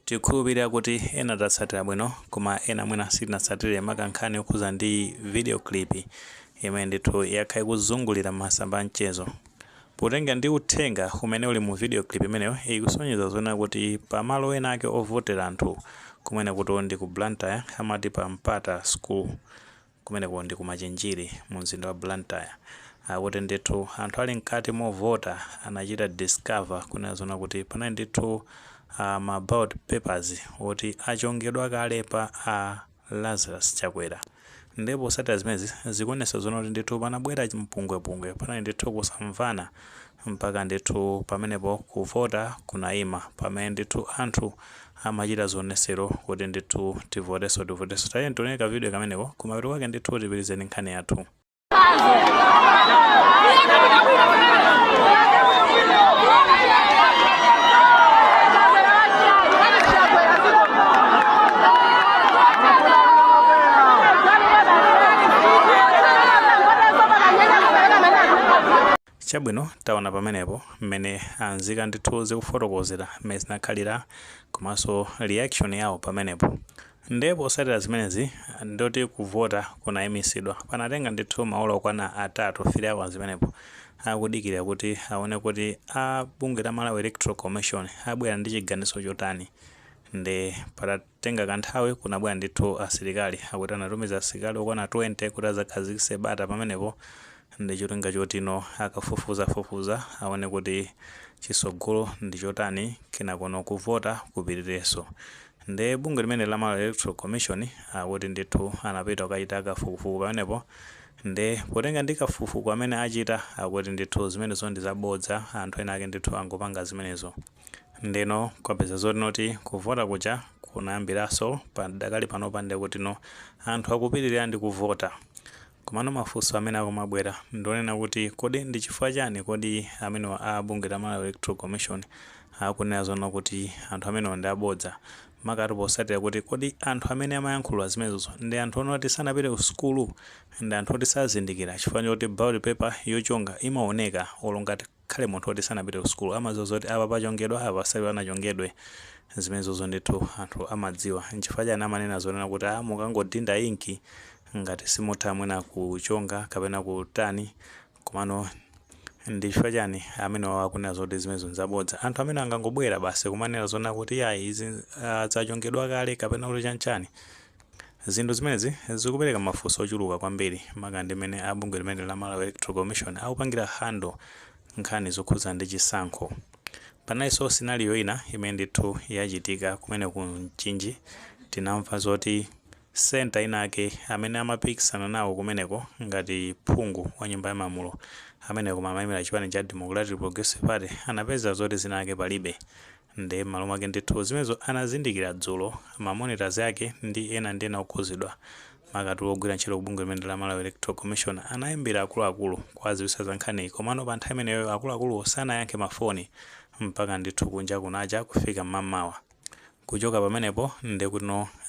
Tikhulupilira kuti ena tatsatira bwino koma ena mwina sitinatsatire maka nkhani yokhuza ndi video clip imene ndithu yakhala ikuzungulira m'masamba a mchezo. Potenga ndi uthenga umene uli mu video clip imeneyo ikusonyeza zonena kuti pa malo ena ake ovotera anthu, kumenekutu ndi ku Blantyre, amati pa Mpata school, Kumeneko ndi ku Machinjiri mu mzinda wa Blantyre. Akuti ndithu anthu ali mkati movota anachita discover kunena zoona kuti panali ndithu ma ballot papers oti achongedwa kale pa a Lazarus Chakwera. Ndiye posatira zimenezi zikuonetsa zoona kuti ndithu panabwera mpungwepungwe, panali ndithu kusamvana mpaka ndithu pamenepo kuvota kunaima pamene ndithu anthu amachita zionesero kuti ndithu tivoteso tivoteso tayeni tione ka video kameneko kumapeto kwake ndithu tipitirize ndi nkhani yathu Chabwino, taona pamenepo mmene a nzika ndithu zikufotokozera mmene zinakhalira komanso reaction yawo pamenepo. Nde posatira zimenezi ndoti kuvota kunayimisidwa. Panatenga ndithu maola okwana atatu, 3 hours imeneyo, akudikira kuti aone kuti a bungwe la Malawi Electoral Commission abwera ndi chiganizo chotani. Nde pata tenga kanthawi, kunabwera ndithu asilikali. Akuti anatumiza asilikali okwana 20 kuti adzakhazikitse bata pamenepo ndi cholinga chotino akafufuzafufuza aone kuti chitsogolo ndi chotani kenakono kuvota kupitirirenso. Ndiye bungwe limeneli la Malawi Electoral Commission akuti ndithu anapita kukachita kafukufuku pamenepo ndiye potenga ndi kafukufuku amene achita akuti ndithu zimenezo ndi zabodza, anthu ena ake ndithu angopanga zimenezo. Ndeno kwapezeka zoti noti kuvota kuja kunayambiraso padakali panopa ndekuti no anthu akupitilira ndi kuvota komano mafunso amene akumabwera ndi onena kuti kodi ndi chifukwa chani kodi amenewa a bungwe la Malawi Electoral Commission akunena zoona kuti anthu amenewa ndi abodza makatu posatira kuti kodi anthu amene amayankhula zimenezozo ndi anthu ona kuti sanapite ku sukulu ndi anthu oti sazindikira chifukwa choti ballot paper yochonga imaoneka olo ngati khale munthu oti sanapite kusukulu amaziwa zoti apa pachongedwa apa sipanachongedwe zimenezozo ndithu anthu amadziwa nchifukwa chani amanena zonena kuti a mukangodinda inki ngati simutha mwina kuchonga kapena kutani komano ndi chifukwa chani amenewa akunena zoti zimenezo nzabodza anthu amene angangobwera basi kumanena zonena kuti yayi izi ah, zachongedwa kale kapena kuti chanchani Zinthu zimenezi zikupereka mafunso ochuluka kwambiri maka ndi mmene a bungwe limeneli la Malawi Electoral Commission akupangira handle nkhani zokhuza ndi chisankho. Panalinso scenario ina imene ndithu yachitika kumene ku Mchinji, tinamva zoti centre inayake amene amapikisana nawo kumeneko ngati phungu wa nyumba ya malamulo ameneyo koma amayimira chipani cha Democratic Progressive Party anapeza zoti zina lake palibe Ndiye m'malo mwake ndithu zimenezo anazindikira dzulo ma monitors ake ndi ena ndi ena okhuzidwa makaka ogwira ntchito ku bungwe limeneli la Malawi Electoral Commission anaimbira akuluakulu kuwaziwisa za nkhaniyi komano pa nthawi imeneyo akuluakuluwo sanayankhe ma foni mpaka ndithu kunja kunacha kufika m'mamawa kuchoka pamenepo ndekuti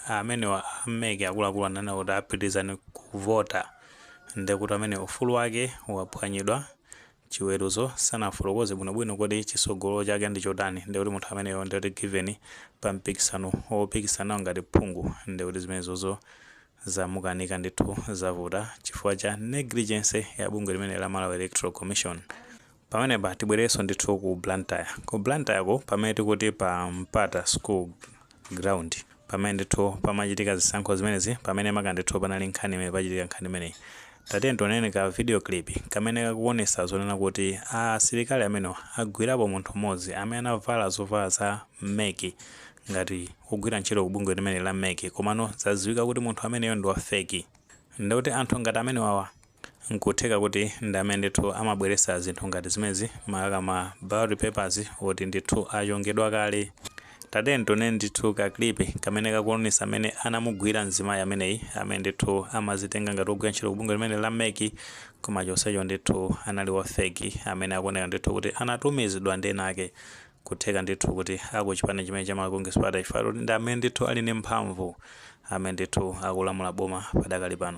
amenewa a mec akuluakulu ananena kuti a pitilizani kuvota ndekuti amene ufulu wake waphwanyidwa chiweruzo sanafotokoze bwinobwino kuti chisogolo chake ndi chotani ndiye kuti munthu ameneyo ndiye kuti given pa mpikisano wopikisana ngati phungu ndiye kuti zimenezozo zamukanika ndithu zavuta chifukwa cha negligence ya bungwe limene la Malawi Electoral Commission pamenepa tibwererenso ndithu ku Blantyre ku Blantyre ko pamene tikuti pa Mpata School ground Pamene ndithu pamachitika zisankho zimenezi, pamene maka ndithu panali nkhani imene pachitika nkhani imeneyi. Tatiyeni tioneni ka video clip kamene kakuonesa zonena kuti a asilikali amenewa agwirapo munthu mmodzi amene anavala zovala za mec ngati wogwira ntchito ku bungwe limeneli la mec komano zadziwika kuti munthu ameneyo ndi wa fake. Ndekuti anthu ngati amenewawa. Nkutheka kuti ndi amene ndithu amabweresa zinthu ngati zimenezi makaka ma ballot papers oti ndithu achongedwa kale. Tatiyeni tione ndithu ka clip kamene kakuonesa mene anamugwira mzimayi ameneyi amene ndithu amazitenga ngati ogwira ntchito ku bungwe limeneli la mec koma chonsecho ndithu anali wa fake amene akuoneka ndithu kuti anatumizidwa ndi ena ake kutheka ndithu kuti aku chipani chimene cha Malawi Congress Party chifukwa choti ndi amene ndithu ali ndi mphamvu amene ndithu akulamula boma padakali pano.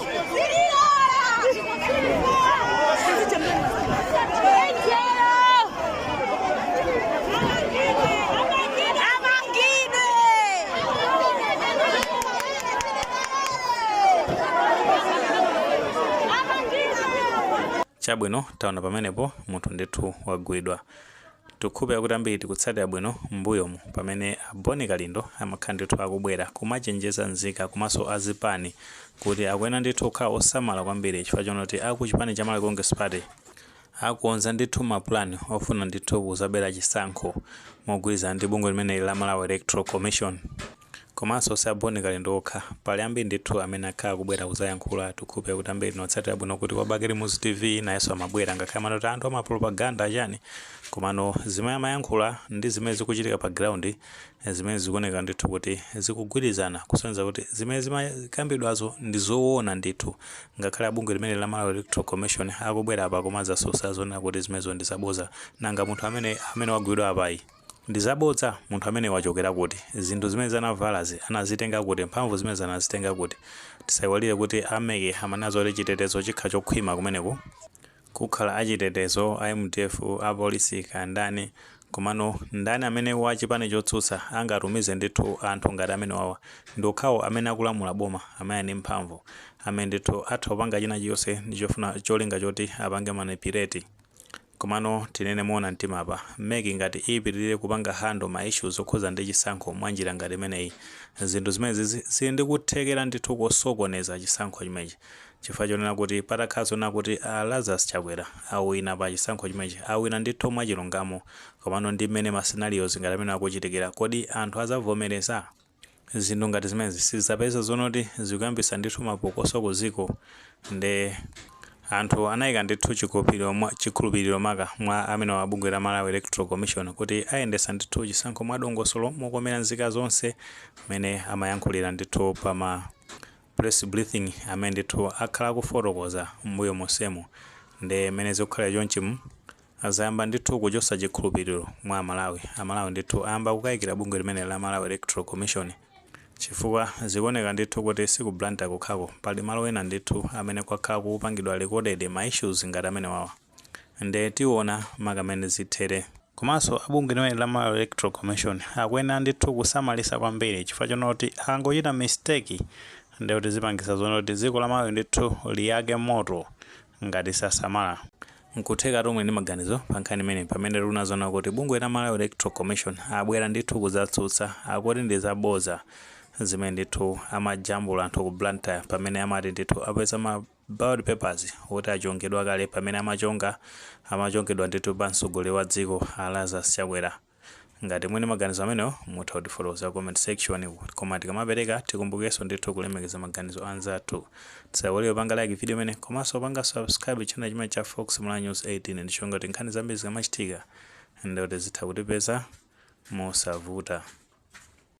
chabwino taona pamenepo munthu ndithu wagwidwa Tikukhulupira kuti ambiri tikutsatira bwino m'mbuyomu pamene a Boni Kalindo amakhala ndithu akubwera kumachenjeza nzika komanso a zipani kuti akuyenera ndithu kukhala osamala kwambiri chifukwa chonena kuti a kuchipani cha Malawi Congress Party akukonza ndithu ma plan ofuna ndithu kuzabera chisankho mogwirizana ndi bungwe limeneli la Malawi Electoral Commission. Komanso si a Bon Kalindo okha, pali ambiri ndithu amene akhala akubwera kudzayankhula. Tikhulupirira kuti ambiri inu otsatira bwino kuti kwa Bakili Muluzi TV nayenso amabwera ngakhale amati kuti anthu amapropaganda chani komano zimene amayankhula ndi zimene zikuchitika pa ground zimene zikuoneka ndithu kuti zikugwirizana kusonyeza kuti zimene zimakambidwazo ndi zoona ndithu. Ngakhale a bungwe limeneli la Malawi Electoral Commission akubwera apa kumadzatsutsa zonena kuti zimenezo ndi zabodza. Nanga munthu amene amene wagwidwa apayi? Ndizabodza? Munthu ameneyu wachokera kuti? Zinthu zimenezi anavalazi anazitenga kuti? Mphamvu zimenezi anazitenga kuti? Tisaiwalire kuti a mec amanena zoti chitetezo chikhala chokhwima kumeneko. Kukhala a chitetezo, a mdf, a polisi kaya ndani komano ndani amene wa chipani chotsutsa angatumize ndithu anthu ngati amenewawa? Ndi okhawo amene akulamula boma amene ali ndi mphamvu amene ndithu atha kupanga china chilichonse ndi chofuna cholinga choti apange manipulate. Komano tinene moona mtima apa, mec ngati ipitilire kupanga handle ma issues okhuza ndi chisankho mwa njira ngati imeneyi, zinthu zimenezizi zili ndi kuthekera ndithu kosokoneza chisankho chimenechi chifukwa chonena kuti patakhala zonena kuti a Lazarus Chakwera awina pa chisankho chimenechi, awina ndithu mwachilungamo, komano ndi mmene ma scenarios ngati amenewa akuchitikira, kodi anthu azavomereza? zinthu ngati zimenezi zizapeza zonoti zikuyambisa ndithu mapokoso ku dziko nde anthu anayika ndithu chikhulupiliro maka mwa amene wa bungwe la Malawi Electoral Commission kuti ayendesa ndithu chisankho mwa dongosolo mokomera nzika zonse mene amayankhulira ndithu pa ma press briefing amene ndithu akhala akufotokoza m'mbuyo monsemu nde mene zikukhalira chonchimu Azayamba ndithu kuchosa chikhulupiliro mwa amalawi. Amalawi ndithu ayamba kukaikira bungwe limeneli la Malawi Electoral Commission. Chifukwa zikuoneka ndithu kuti si ku Blantyre kokhako, pali malo ena ndithu amene kwakhala kukupangidwa recorded ma issues ngati amenewawa. Nde tiona maka mmene zithere. Komanso a bungwe limeneli la Malawi Electoral Commission akuyenera ndithu kusamalisa kwambiri chifukwa chonena kuti akangochita mistake nde kuti zipangisa zonena kuti dziko la Malawi ndithu liyake moto ngati sasamala. Nkutheka muli ndi maganizo pa nkhani imeneyi pamene tuona zonena kuti bungwe la Malawi Electoral Commission abwera ndithu kuzatsutsa akuti ndi za boza zimene ndithu amajambula anthu ku Blantyre pamene amati ndithu apeza ma ballot papers oti achongedwa kale pamene amachonga amachongedwa ndithu pa mtsogoleri wa dziko a Lazarus Chakwera Ngati muli ndi maganizo amenewo mutha kutifotokozera ku comment section koma tikamapereka tikumbukenso ndithu kulemekeza maganizo anzathu. Tisaiwale kupanga like video imeneyi komanso kupanga subscribe channel chimenechi cha Fox Malawi News 18 ndi cholinga kuti nkhani zambiri zikamachitika ndekuti zitha kutipeza mosavuta.